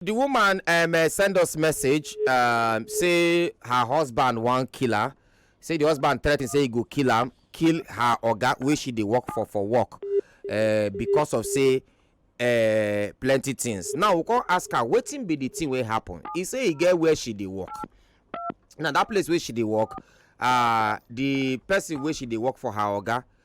The woman um, uh, send us message um, say her husband wan kill her. Say the husband threaten say he go kill am, kill her oga wey she dey work for for work uh, because of say uh, plenty things. Now we come ask her wetin be the thing wey happen. He say he get where she dey work. Now that place wey she dey work, uh, the person wey she dey work for her oga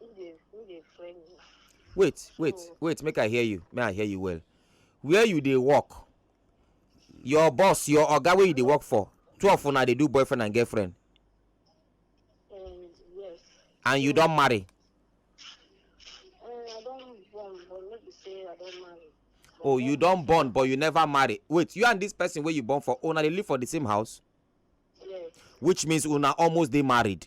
Who dey who dey friend you? wait wait So- wait make i hear you make i hear you well where you dey work your boss your oga wey you dey work for two of una dey do boyfriend and girlfriend Um, yes. and you don marry Um, I don born, but no be say I don marry. But oh you don born but you never marry wait you and this person wey you born for una dey live for the same house Yes. which means una almost dey married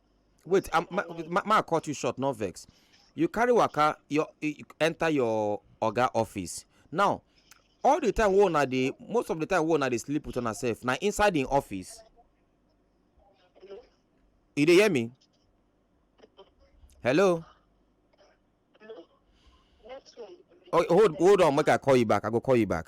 wait um, ma, ma, ma cut you short no vex you carry waka your you enter your oga office now all the time wey una dey most of the time wey una dey sleep with una sef na inside im office you dey hear me hello oh hold hold on make i call you back i go call you back.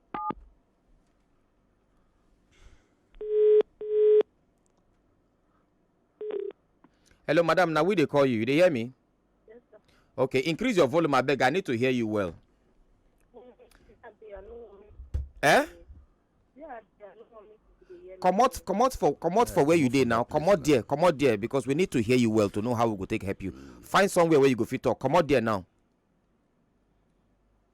hello madam Now we they call you you dey hear me yes sir okay increase your volume I beg. i need to hear you well eh comot comot for comot for where you dey now comot there comot there because we need to hear you well to know how we go take help you find somewhere where you go fit talk comot there now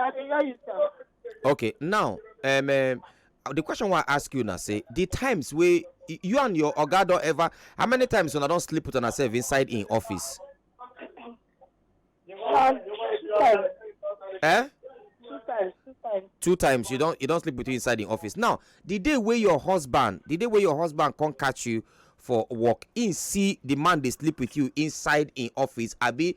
I dey hear you, sir. okay now um, um the question wey i ask you na say the times wey you and your oga don ever how many times una don sleep with una sef inside im office. Um, two times. Eh? Two times. Two times. two times you don you don sleep with you inside im office now the day wey your husband the day wey your husband come catch you for work im see the man dey sleep with you inside im office abi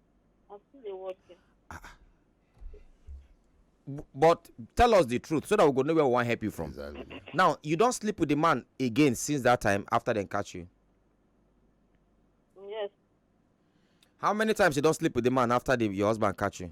I'm still dey watch you. Ah, ah. but tell us the truth so that we go know where we wan help you from. Exactly. now you don sleep with the man again since that time after dem catch you. yes. how many times you don sleep with the man after the, your husband catch you.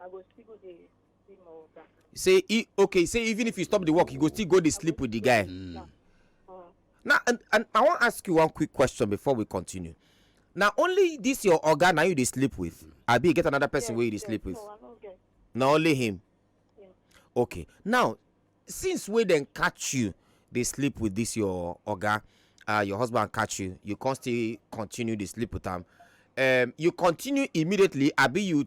I go still go dey see my water. You say e okay, you say even if you stop the work, you go still go dey sleep with the guy. Mm. Mm. Now and, and I wan ask you one quick question before we continue. Na only this your oga na you dey sleep with? Mm. Abi you get another person yes, wey you dey yes, sleep with? No, I no get. Na only him? Yeah. Okay. Now, since wey dem catch you dey sleep with this your oga, uh, your husband catch you, you come still continue dey sleep with am. Um, you continue immediately abi you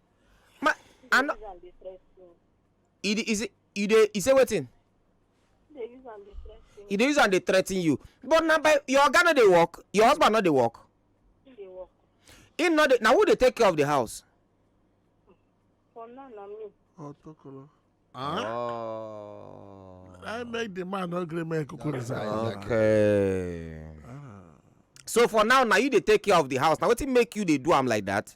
ma She I dey no use am dey threaten. e dey e say e dey e say wetin She dey use am dey threaten. e dey use am dey threaten you but na by your oga no dey work your husband no dey work She dey work. him no dey na who dey take care of the house. For now na me. Oh, Tokolo. Huh? Oh. I make the man no gree make kuku resign. Exactly. okay. so for now na you dey take care of the house na wetin make you dey do am like that.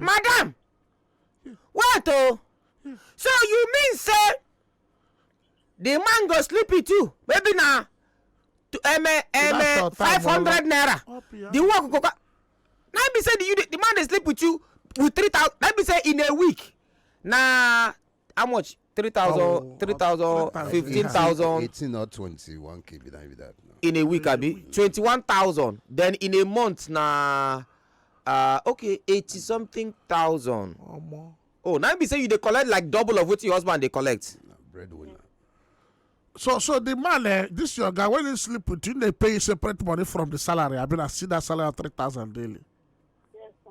madam wait o so you mean say the man go sleep with you maybe na um, um, five hundred naira the work go come na be say the, the man dey sleep with you with three thousand na be say in a week na how much three thousand oh, three thousand fifteen thousand. eighteen or twenty-one k be that be that. No. in a week abi twenty-one thousand then in a month na uh, okay eighty something thousand. omo. oh na be say you dey collect like double of wetin your husband dey collect. na breadwinner. so so the man eh this your guy when he sleep with you dey pay you separate money from the salary abi na see that salary three thousand daily. yes sir.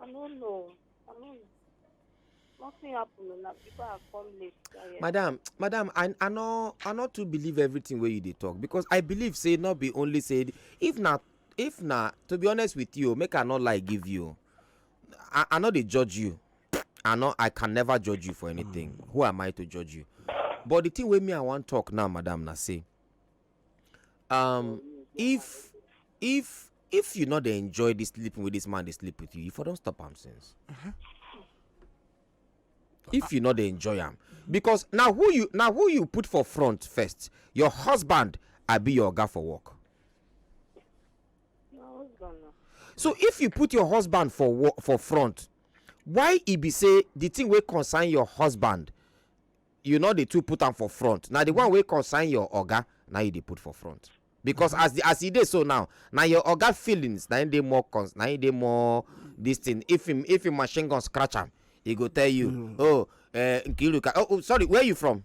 I no know. I no know. Nothing happen na people are come late. Yeah. Madam, madam, I I no I no too believe everything wey you dey talk because I believe say no be only say if na if na to be honest with you make I no lie give you I I no dey judge you I no I can never judge you for anything who am I to judge you but the thing wey me I wan talk now madam na say um if if if you no dey enjoy this sleeping wey this man dey sleep with you you for don stop am since uh-huh. if you no dey enjoy am because na who you na who you put for front first your husband abi your oga for work so if you put your husband for work for front why e be say the thing wey concern your husband you no dey too put am for front na the one wey concern your oga na you dey put for front because as the as e dey so now na your oga feelings na im dey more cons na im dey more this thing if him if him machine gun scratch am he go tell you mm. oh uh, nkiruka oh, oh sorry where you from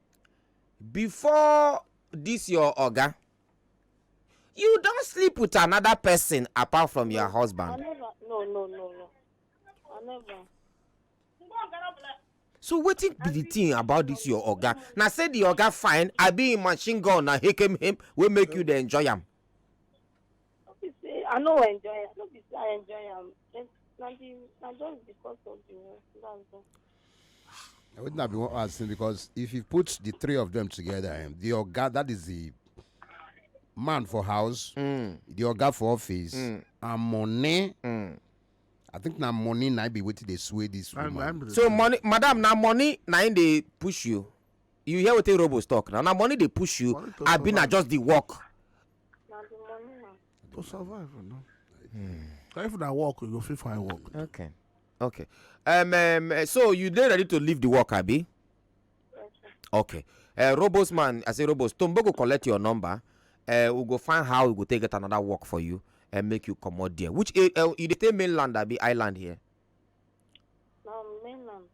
before this your oga you don sleep with another person apart from your husband. I never. No, no, no, no. I never. so wetin be the thing about this your oga na say the oga fine abi him machine gun na him wey make you dey enjoy am. No be say I no enjoy am. No be say I enjoy am. Just na the na just because of the work. That's all. I wouldn't have been asking because if you put the three of them together, eh, the oga that is the man for house, mm. the oga for office, mm. and money. Mm. I think now money now be waiting they sway this woman. I'm, I'm so money, madam, now money now they push you. you hear wetin robos talk na na money dey push you Money to abi na survive. just the work na the money na. to survive you know. So if na work you go fit find work. okay okay um, um eh, so you dey ready to leave the work abi Yes, sir. okay uh, robos man i say robos tombo go collect your number uh, we go find how we go take get another work for you and make you comot there which uh, uh, you dey stay mainland abi island here na mainland.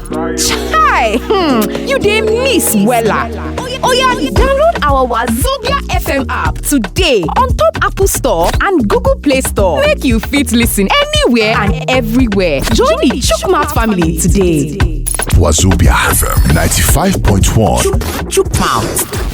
Hi! Hmm, you dey miss wella. Oya download our Wazobia FM app today on top Apple Store and Google Play Store make you fit listen anywhere and everywhere. Join the Chook Mouth family today. Wazobia FM 95.1. Chook Mouth.